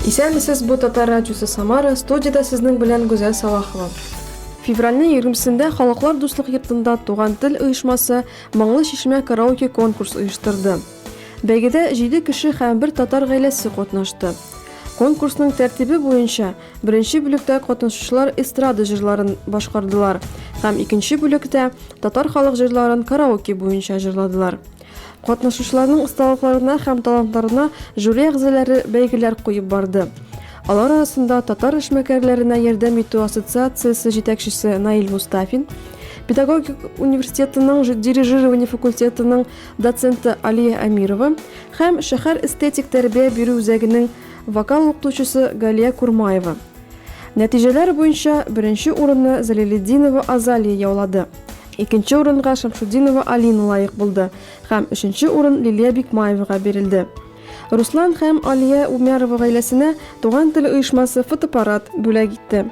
Исәнмесез, бу Татар радиосы Самара, студияда сезнең белән Гүзәл Салахова. Февральнең 20-сендә Халыклар дуслык йортында Туган тел оешмасы Моңлы чишмә караоке конкурс оештырды. Бәйгедә 7 кеше һәм бер татар гаиләсе катнашты. Конкурсның тәртибе буенча Беренче бүлектә катнашучылар эстрада җырларын башкардылар һәм икенче бүлектә татар халык җырларын караоке буенча җырладылар. Катнашучыларның осталыкларына һәм талантларына жюри әгъзалары бәйгеләр куеп барды. Алар арасында Татар эшмәкәрләренә ярдәм итү ассоциациясе җитәкчесе Наил Мустафин, педагогик университетының дирижирование факультетының доценты Алия Әмирова һәм шәһәр эстетик тәрбия бирү үзәгенең Вокал укытучысы Галия Курмаева. Нәтиҗәләр буенча беренче урынны Залилетдинова Азалия яулады. Икенче урынга Шамшутдинова Алина лаек булды һәм өченче урын Лилия Бикмаевага бирелде. Руслан һәм Алия Умярова гаиләсенә Туган тел оешмасы фотоаппарат бүләк итте.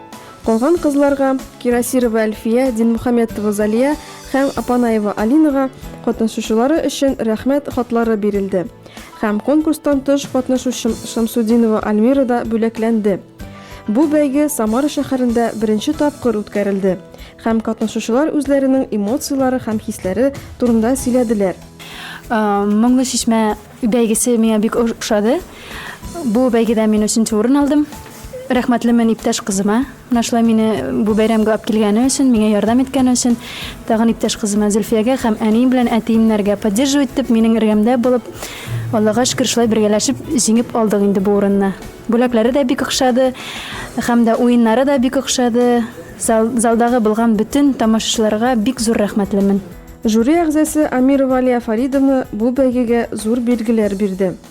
Калган кызларга, Кирасирова Әлфия, Динмөхәммәтова Залия һәм Апанаева Алинага, катнашучылары өчен рәхмәт хатлары бирелде. Һәм конкурстан тыш катнашучым Шамсудинова Альмира да бүләкләнде. Бу бәйге Самара шәһәрендә беренче тапкыр үткәрелде һәм катнашучылар үзләренең эмоцияләре һәм хисләре турында сөйләделәр. Моңлы чишмә бәйгесе миңа бик ошады. Бу бәйгедә мин өченче урын алдым. Рәхмәтлемен иптәш кызыма. Менә шулай мине бу бәйрәмгә алып килгәне өчен, миңа ярдәм иткәне өчен, тагын иптәш кызыма Зөлфиягә һәм әнием белән әтиемнәргә, поддерживать итеп, минең эргәмдә булып, Аллага шөкер, шулай бергәләшеп җиңеп алдык инде бу урынны. Бүләкләре дә бик охшады һәм дә уеннары да бик охшады. Зал, залдагы булган бөтен тамашачыларга бик зур рәхмәтлемен. Жюри әгъзасы Амирова Алия Фаридовна бу бәйгегә зур билгеләр бирде.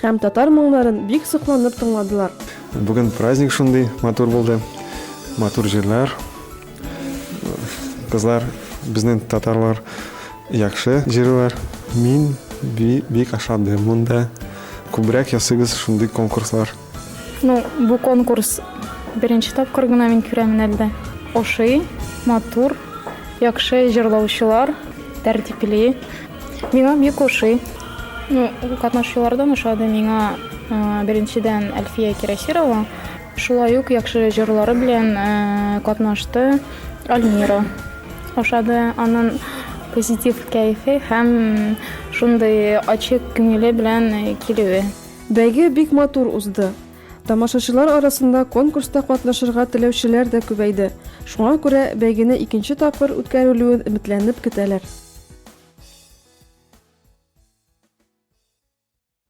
Һәм татар моңнарын бик сокланып тыңладылар. Бүген праздник шундый матур булды. Матур җырлар. Кызлар, безнең татарлар яхшы җырлар. Мин бик ашадым монда. Күбрәк ясыгыз шундый конкурслар. Ну, бу конкурс беренче тапкыр гына мин күрәмен әлдә. Ошый, матур, яхшы җырлаучылар, тәртипле. Миңа бик ошый. Ну, катнашучылардан ошады миңа беренчедән Әлфия Кирәсирова. Шулай ук яхшы җырлары белән катнашты Альмира. Ошады анын позитив кәефе һәм шундый ачык күңеле белән килүе. Бәйге бик матур узды. Тамашачылар арасында конкурста катнашырга теләүчеләр дә күбәйде, шуңа күрә бәйгене икенче тапкыр үткәрелүен өметләнеп көтәләр.